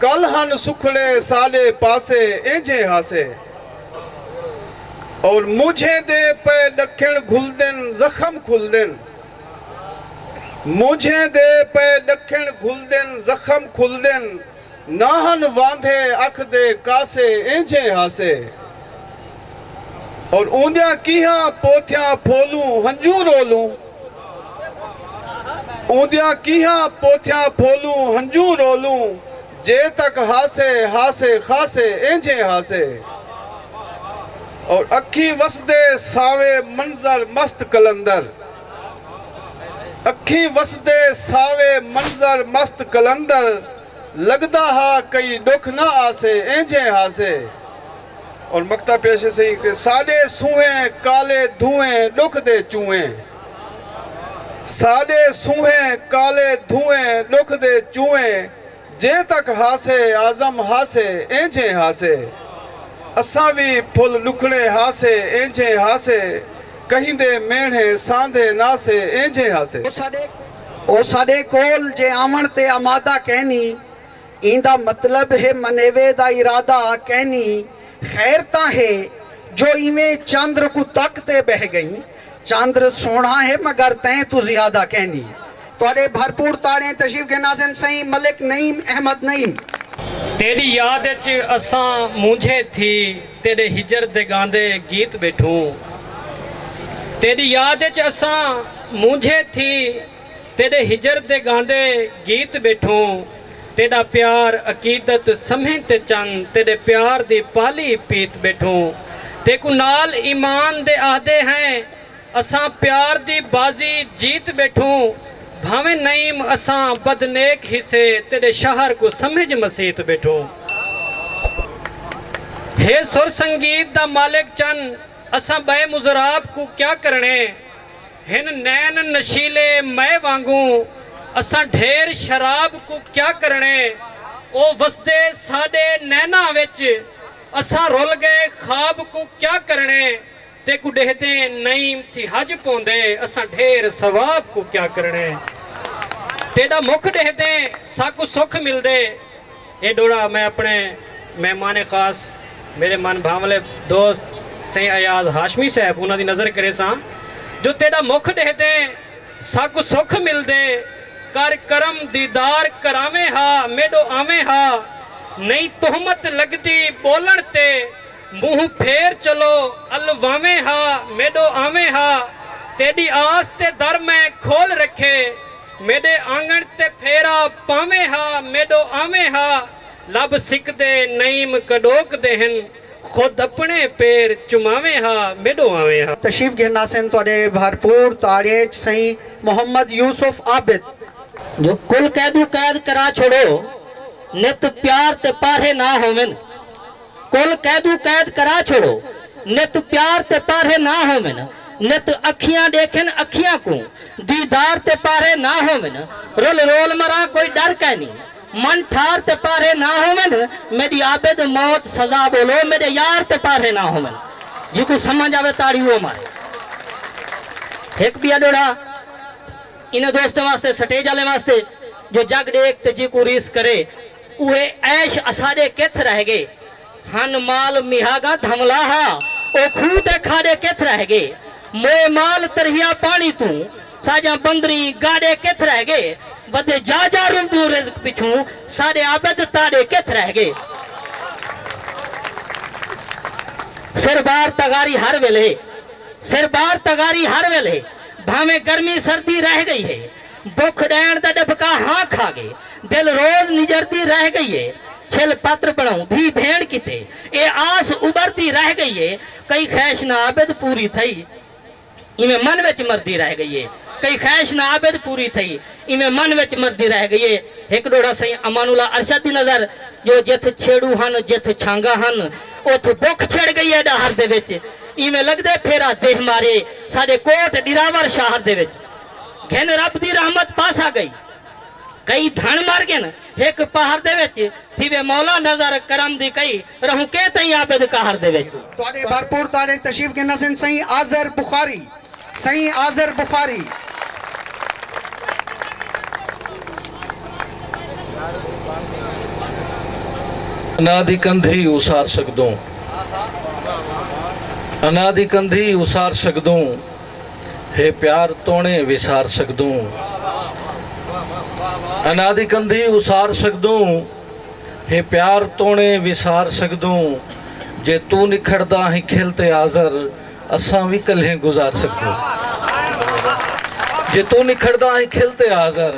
کل ہن سکھڑے ساڈے پاسے اینجھے ہاسے اور مونجھیں دے پئے ڈکھن گھلدن زخم کھلدن مونجھیں دے پئے ڈکھن گھلدن زخم کھلدن نہ ہن واندھے اکھ دے کاسے اینجھے ہاسے اور اوندیاں کیہاں پوتھیاں پھولوں ہنجوں رولوں۔ اوندیاں کیہاں پوتھیاں پھولوں ہنجوں رولوں جے تک ہاسے ہاسے خاسے اینجھیں ہاسے اور اکھیں وسدے ساوے منظر مست قلندر اکھیں وسدے ساوے منظر مست قلندر لگدا ہا کئی ڈکھ نہ آسے اینجھیں ہاسے۔ ہن مقطع پیش ہے سہی کہ ساݙے سونہے کالے دھوئیں ݙکھ دے چوئیں ساݙے سونہے کالے دھوئیں ݙکھ دے چوئیں جے تک ہاسے اعظم ہاسے اینجھیں ہاسے اساں وی پھل ݙکھڑے ہاسے اینجھیں ہاسے کہیندے مینڑھے ساندھے ناسے اینجھیں ہاسے۔ او ساݙے کول جے آوݨ تے آمادہ کینی۔ ایندا مطلب ہے منیوے دا ارادہ کینی خیر تاں ہے جو ایویں چندر کوں تک تے بہہ گئیں۔ چندر سوہنڑا ہے مگر تیں توں زیادہ کینی۔ تہاڈے بھرپور تاڑیں تشریف گھن آسن سئیں ملک نعیم احمد نعیم۔ تیڈی یاد اچ اساں مونجھے تھی تیڈے ہجر دے گاندے گیت بیٹھوں۔ تیڈی یاد اچ اساں مونجھے تھی۔ تیݙے ہجر دے ڳاندے گیت ٻیٹھوں تیݙا پیار عقیدت سمھیں تے چن تیݙے پیار دی پالی پیت ٻیٹھوں تیکوں نال ایمان دے آہدے ہیں اساں پیار دی بازی جیت ٻیٹھوں بھانویں نعیم اساں بد نیک ہیسے تیݙے شہر کوں سمجھ مسیت ٻیٹھوں ہے سر سنگیت دا مالک چن اساں ٻئے مضراب کوں کیا کرݨے۔ ہن نین نشیلے مئے وانگوں اساں ڈھیر شراب کوں کیا کرݨے او وسدے ساݙے نیناں وچ اساں رل ڳئے خواب کوں کیا کرݨے تیکوں ݙیہدیں نئیں تھی حج پوندے اساں ڈھیر ثواب کوں کیا کرݨے تیݙا مکھ ݙیہدیں ساکوں سکھ ملدے اے ݙوہڑا میں اپݨے مہمان خاص میݙے من بھانولے دوست سئیں ایاز ہاشمی صاحب انہاں دی نذر کریساں جو تیݙا مکھ ݙیہدیں ساکوں سکھ ملدے کر کرم دیدار کراویں ہا میݙو آویں ہا نئیں تہمت لڳدی ٻولݨ تے مونہہ پھیر چلو الواویں ہا میݙو آویں ہا تیݙی آس تے در میں کھول رکھے میݙے آنگݨ تے پھیرا پاویں ہا میݙو آویں ہا لب سکدے نعیم کݙوک دے ہن خود اپݨے پیر چماویں ہا میݙو آویں ہا۔ تشریف گھن آسن تہاݙے بھرپور تاݨے اچ سئیں محمد یوسف عابد۔ جو کل قیدو قید کرا چھوڑو نت پیار تے پارھے نہ ہوون۔ کل قیدو قید کرا چھوڑو۔ نت پیار تے پارھے نہ ہوون۔ نت اکھیاں ڈیکھن اکھیاں کوں۔ دیدار تے پارھے نہ ہوون۔ رل رول مراں کوئی ڈر کائنی۔ من ٹھار تے پارھے نہ ہوون۔ میڈی عابد موت سزا بولو میڈے یار تے پارھے نہ ہوون۔ جیکوں سمجھ آوے تاڑی اوہ مارے۔ ہک بیا ڈوہڑا انہاں دوستاں واسطے سٹیج آلیں واسطے جو جگ ڈیکھ تے جیکوں ریس کرے۔ اوہے عیش اساݙے کتھ رہ ڳئے ہن مال میہاڳاں دھملا ہا او کھوہ تے کھاݙے کتھ رہ ڳئے موئے مال تریہا پاݨی توں ساڄاں بندریں گاݙے کتھ رہ ڳئے ودے جا جا رلدوں رزق پچھوں ساݙے عابد تاݙے کتھ رہ ڳئے سر بار تغاری ہر ویلھے سر بار تغاری ہر ویلھے بھانویں گرمی سردی رہ ڳئی ہے۔ بکھ ݙیݨ دا ݙبھکا ہاں کھا ڳے۔ دل روز نجردی رہ ڳئی اے۔ چھل پتر بݨاؤں دھی بھیݨ کیتے۔ اے آس اٻردی رہ ڳئی اے۔ کئی خیش نہ عابد پوری تھئی۔ ایویں من وچ مردی رہ ڳئی اے۔ کئی خیش نہ عابد پوری تھئی۔ ایویں من وچ مردی رہ ڳئی اے۔ ہک ݙوہڑا سئیں امان اللہ ارشد دی نظر جو جتھ چھیڑو ہن جتھ چھانگاں ہن اتھ بکھ چھڑ ڳئی اے ݙاہر دے وچ۔ ایویں لڳدے پھیرا دیہہ مارے ساݙے کوٹ ݙراور شاہر دے وچ۔ گھن رب دی رحمت پاسا گئی کئی دھن مر گھن ہک پہر دے وچ تھیوے مولا نظر کرم دی کئی رہوں کے تئیں عابد قہر دے وچ۔ تہاڈے بھرپور تاڑے تشریف گھن اسن سئیں آذر بخاری سئیں آذر بخاری۔ انا دی کندھی اسار سگدوں انا دی کندھی اسار سگدوں۔ ہے پیار توݨیں وسار سڳدوں انا دی کندھی اسار سڳدوں ہے پیار توݨیں وسار سڳدوں جے توں نکھڑدا ہیں کھل تے آزر اساں وی کلھیں گزار سڳدوں جے توں نکھڑدا ہیں کھل تے آزر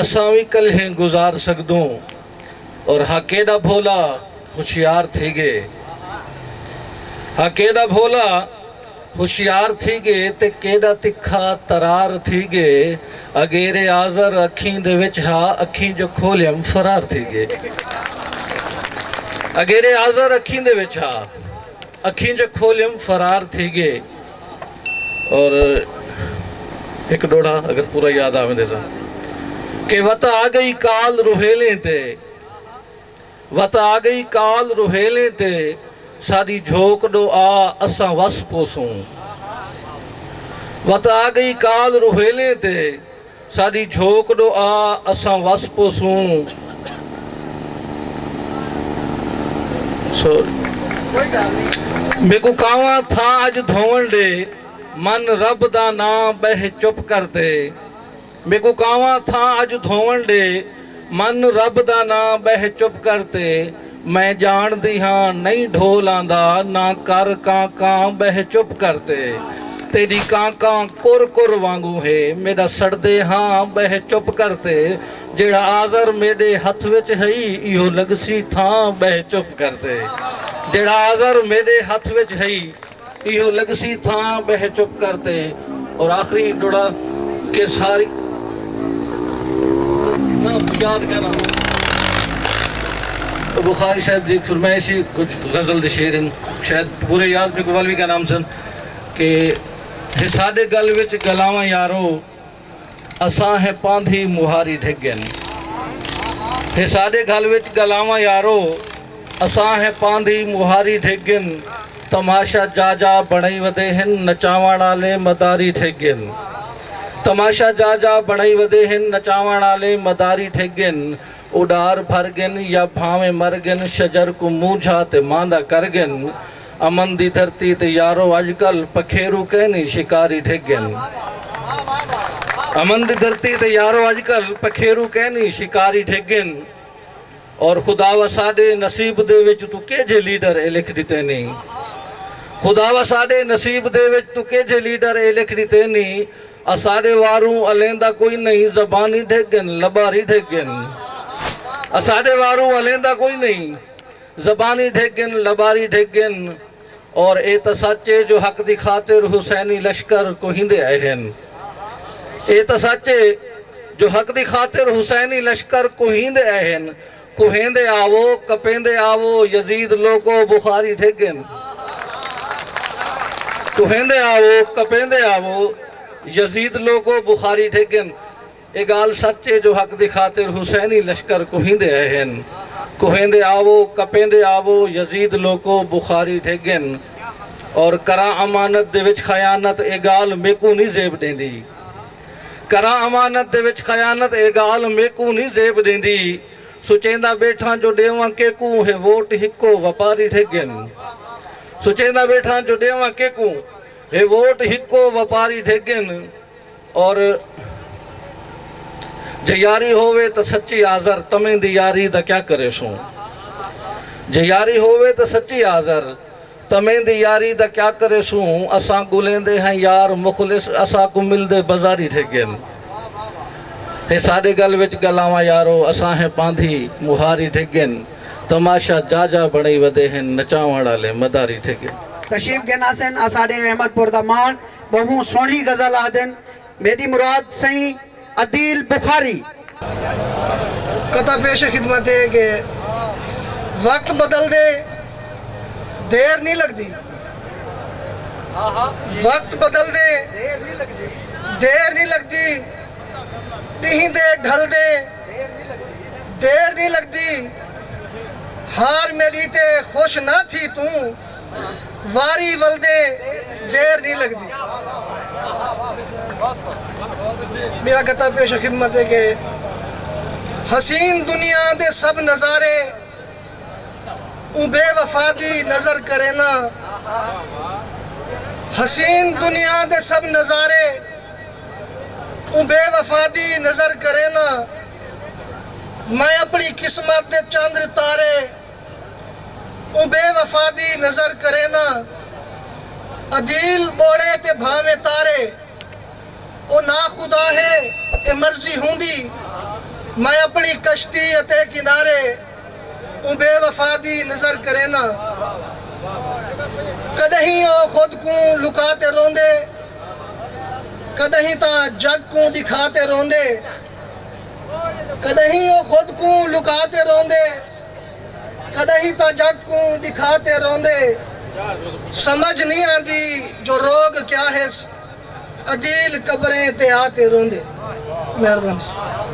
اساں وی کلھیں گزار سڳدوں اور ہا کیݙا بھولا ہوشیار تھی ڳئے ہا کیݙا بھولا ہوشیار تھی ڳے تے کیݙا تکھا ترار تھی ڳے اگیرے آزر اکھیں دے وچ ہا اکھیں جو کھولیم فرار تھی ڳے اگیرے آزر اکھیں دے وچ ہا اکھیں جو کھولیم فرار تھی ڳے اور ہک ݙوڑھا اگر پورا یاد آویں دے سن کہ وت آ ڳئی کال روہیلیں تے وت آ گئی کال روہیلیں تے ساݙی جھوک ݙو آ اساں وس پوسوں وت آ گئی کال روہیلیں تے ساݙی جھوک ݙو آ اساں وس پوسوں میکوں کانواں تھا اڄ دھووݨ ݙے من رب دا ناں ٻہہ چپ کر تے میکوں کانواں تھاں اج دھووݨ ݙے۔ من رب دا ناں ٻہہ چپ کر تے۔ میں ڄاݨدی ہاں نئیں ڈھول آندا نہ کر کاں کاں ٻہہ چپ کر تے۔ تیݙی کاں کاں کر کر وانگوں ہے میݙا سڑدے ہاں ٻہہ چپ کر تے۔ جیڑھا آزر میݙے ہتھ وچ ہئی ایہو لڳسی تھاں ٻہہ چپ کر تے۔ جیڑھا آزر میݙے ہتھ وچ ہئی۔ ایہو لگسی تھاں ٻہہ چپ کر تے اور آخری ݙڑا کہ ساری یاد کر آں بخاری صاحب دی فرمائے سی کچھ غزل دے شعر ہیں شاید پورے یاد میکو والوی کا نام سن کہ حساد گل وچ گلاواں یارو اساں ہیں پاندھی مہاری ڈھک گن ہے ساڈے گھل وچ گلاواں یارو اساں ہیں پاندھی مہاری ڈھک گن تماشا جا جا بنائی ودے ہن نچاوان آلے مداری ڈھک گن تماشا جا جا بنائی ودے ہن نچاوان آلے مداری ڈھک گن اڈار بھر گن یا بھاویں مر گن شجر کو مونجھا تے ماندا کر گن امن دی دھرتی تے یارو اج کل پکھیرو کینی شکاری ڈھگ گن امن دی دھرتی تے یارو اج کل پکھیرو کینی شکاری ڈھگ گن اور خداوا ساڈے نصیب دے وچ تو کیجھے لیڈر اے لکھ ڈتے نی خداوا ساڈے نصیب دے وچ تو کیجھے لیڈر اے لکھ ڈتے نی اساڈے واروں الیندا کوئی نئی زبانی ڈھگ گن لباری ڈھگ گن اساڈے واروں الیندا کوئی نئی زبانی ڈھگ گن لباری ڈھگ گن اور اے تاں سچ اے جو حق دی خاطر حسینی لشکر کوہیندے ائے ہن اے تاں سچ اے جو حق دی خاطر حسینی لشکر کوہیندے ائے ہن کوہیندے آوو کپیندے آوو یزید لوکو بخاری ڈھگ گن کوہیندے آوو کپیندے آوو یزید لوکو بخاری ڈھگ گن اے گالھ سچ اے جو حق دی خاطر حسینی لشکر کوہیندے آئے ہن۔ کوہیندے آوو، کپیندے آوو، یزید لوکو بخاری ڈھگ گن۔ اور کراں امانت دے وچ خیانت اے گالھ میکوں نی زیب ڈیندی۔ کراں امانت دے وچ خیانت اے گالھ میکوں نی زیب ڈیندی۔ سوچیندا بیٹھاں جو ڈیواں کیکوں ہے ووٹ ہکو وپاری ڈھگ گن۔ سوچیندا بیٹھاں جو ڈیواں کیکوں ہے ووٹ ہکو وپاری ڈھگ گن۔ اور جے یاری ہووے تاں سچی آذر تمیں دی یاری دا کیا کریسوں جے یاری ہووے تاں سچی آذر تمیں دی یاری دا کیا کریسوں اساں گلیندے ہیں یار مخلص اساں کوں ملدے بزاری تھے گن ہے ساڈے گل وچ گلاواں یارو اساں ہیں پاندھی مہاری تھے گن تماشہ جا جا بنڑی ودے ہن نچاونڑ آلے مداری تھے گن۔ تشریف گھن آسن اساڈے احمد پور دا ماݨ ٻہوں سوہݨی غزل آہدن میݙی مراد سئیں عدیل بخاری۔ قطعہ پیش خدمت اے کہ وقت بدلدے دیر نی لڳدی وقت بدلدے دیر نی لڳدی ݙینہہ دے ڈھلدے دیر نی لڳدی حال میݙی تے خوش نہ تھی توں واری ولدے دیر نی لگدی۔ میرا گتا پیش خدمت ہے کہ حسین دنیا دے سب نظارے اوں بے وفا دی نظر کرینداں حسین دنیا دے سب نظارے اوں بے وفا دی نظر کرینداں میں اپنی قسمت دے چندر تارے اوں بے وفا دی نظر کرینداں عدیل ٻوڑے تے بھانویں تارے او ناخدا ہے اے مرضی ہوندی میں اپݨی کشتی اتے کنارے اوں بے وفا دی نظر کرینداں کݙاہیں او خود کوں لکا تے روندے کݙاہیں تاں جڳ کوں ݙکھا تے روندے کݙاہیں او خود کوں لکا تے روندے۔ کݙاہیں تاں جڳ کوں ݙکھا تے روندے سمجھ نی آندی جو روڳ کیا ہیس عدیل قبریں تے آ تے روندے مہربانی۔